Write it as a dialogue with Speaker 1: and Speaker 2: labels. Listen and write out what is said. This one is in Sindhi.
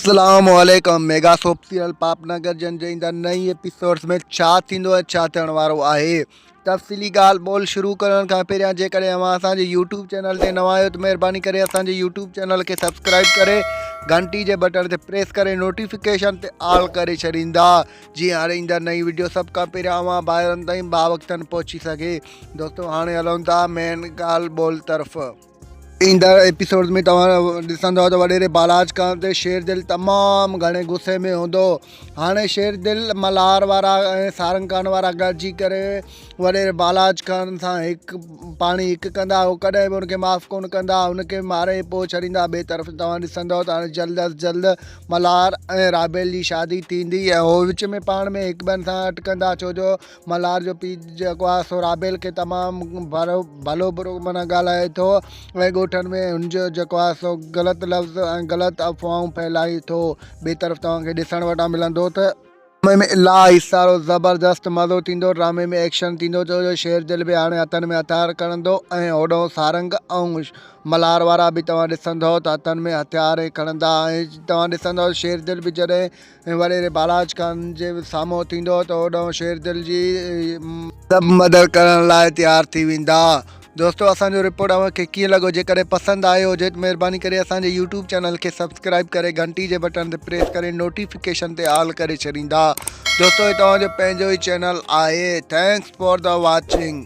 Speaker 1: اسلام عليڪم ميگا سوپ سيريل پاپنگر جن جي ايندڙ نئين ايپيسوڊز ۾ ڇا ٿيندو ۽ ڇا ٿيڻ وارو آهي تفصيلي ڳالهه ٻولهه شروع ڪرڻ کان پهريان جيڪڏهن اوهان اسان جي يوٽيوب چينل تي نوان آهيو ته مهرباني ڪري اسان جي يوٽيوب چينل کي سبسڪرائب ڪري گهنٽي جي بٽڻ تي پريس ڪري نوٽيفڪيشن تي آل ڪري ڇڏيندا جي هاڻي ايندڙ نئين ويڊيو سڀ کان پهريان اوهان ڀائرن تائين باوقتن پهچي سگهي دوستو هاڻي هلون ٿا مين ڳالهه ٻولهه طرف ايندڙ ايپيسوڊز ۾ توهان ڏسندؤ ته وڏيري بالاج ڪرڻ تي شير دل تمام گهڻي غصي ۾ هوندو هاڻي شير دل ملهار وارا ۽ سارنگان وارا گڏجي ڪري وڏيري بالاج ڪرڻ سان هڪ پاڻي هڪ ڪندا هو ڪڏهن به ان کي معاف ڪون ڪندا ان کي ماري پوء ڇڏيندا ٻئي طرف توهان ڏسندؤ ته هاڻي جلد از جلد ملهار ۽ رابيل جي شادي ٿيندي ۽ هو وچ ۾ پاڻ ۾ هڪ ٻن سان اٽڪندا ڇو جو ملهار جو پيء جيڪو آهي سو رابيل کي تمام برو ڀلو برو معنيٰ ڳالهائي ٿو ۽ ڳوٺن ۾ هن جو جيڪو آهي سو غلط لفظ ۽ غلط افواهون ڦهلائي ٿو ٻي طرف توهان کي ڏسڻ وٽا ملندو ته ڊرامي ۾ الاهي سارو زبردست مزو ٿيندو ڊرامي ۾ ايڪشن ٿيندو ڇو جو شير دل به هاڻي هٿن ۾ هٿيار کڻندو ۽ هوڏانهن سارنگ ۽ ملهار وارا به توهان ڏسندو ته هٿن ۾ هٿيار ئي کڻندا ۽ توهان ڏسندو ته شير دل به جڏهن ۽ وڏيري بالاچ خان جي سامهون ٿيندو ته اوڏانهن شير دل جي سڀ مدد ڪرڻ لاء تيار ٿي ويندا. دوستو اسان جو رپورٽ اوهان کي ڪيئن لڳو جيڪڏهن پسند آيو هجي ته مهرباني ڪري اسان جي يوٽيوب چينل کي سبسڪرائيب ڪري گهنٽي جي بٽڻ تي پريس ڪري نوٽيفڪيشن تي آل ڪري ڇڏيندا دوستو هي توهان جو پنهنجو ئي چينل آهي ٿينڪس فار دا واچنگ.